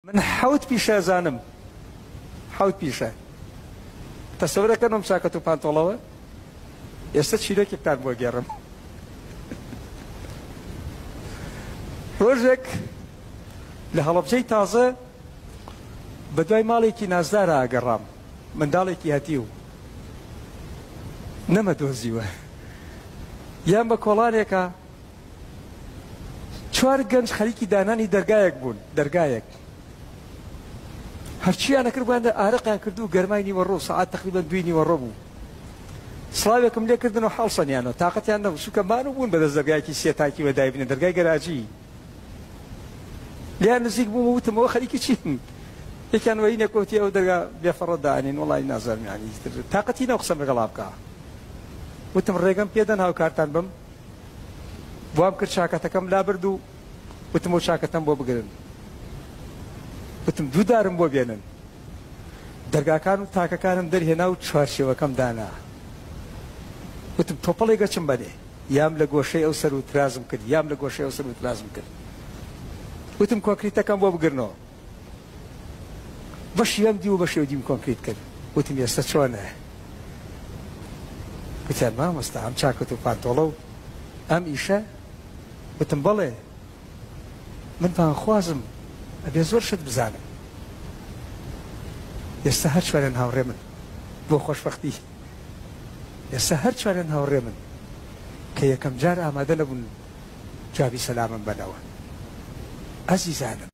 من حەوت پیشەزانم حەوت پیشە تەسەورەکەن ئەم چاکەت و پانتۆڵەوە ئێستا چیرۆکێکتان بۆ گێڕم ڕۆژێک لە هەڵەبجەی تازە بە دوای ماڵێکی نازدارە ئاگەڕام منداڵێکی هەتی و نەمە دۆزیوە یان بە کۆڵانێکە چوار گەنج خەریکی دانانی دەرگایەک بوون، دەرگایەک. هەرچییان ئەکرد بوویانە ئارەقیان کرد و گەرمای نیوەڕۆ، سەعات تەقریبەن دووی نیوەڕۆ بوو. سڵاوێکم لێ کردن و هەڵسەنیانەوە. تاقەتیان نەبوو، چونکە مانوو بوون بەدەست دەرگایەکی سێ تاکی وە دایبنێن، دەرگای گەراجی. لێیان نزیک بووم و وتم، ئەوە خەریکی چین؟ یەکیان وەینێک وتی، ئەوە دەرگا بێفەڕە دائەنێن، وەڵڵاهی نازانم یانی ئیتر تاقەتی نەم قسەم لەگەڵا بکا. وتم، ڕێگەم پێدەن هاوکارتان بم؟ وام کرد چاکەتەکەم لابرد و وتم ئەو چاکەتەم بۆ بگرن وتم دوو دارم بۆ بێنن دەرگاکان و تاکەکانم دەرهێنا و چوارچێوەکەم دانا وتم تۆپەڵی گەچم بەنێ یام لە گۆشەی ئەو سەر و ترازم کرد یام لە گۆشەی ئەو سەر و ترازم کرد وتم کۆکریتەکەم بۆ بگرنەوە بەشی یەم دی و بەشی یەو دیم کۆنکریت کرد وتم ئێستە چۆنە گوتیان مامۆستا ئەم چاکەت و پانتۆڵە و ئەم ئیشە وتم بەڵێ من پانخوازم ئەبێ زۆر شت بزانم ئێستا هەر چوارێن هاوڕێ من بۆ خۆشبختی ئێستا هەر چوارێن هاوڕێ من کە یەکەم جار ئامادە نەبوون جوابی سەلامم بەنەوە ئەزیزانم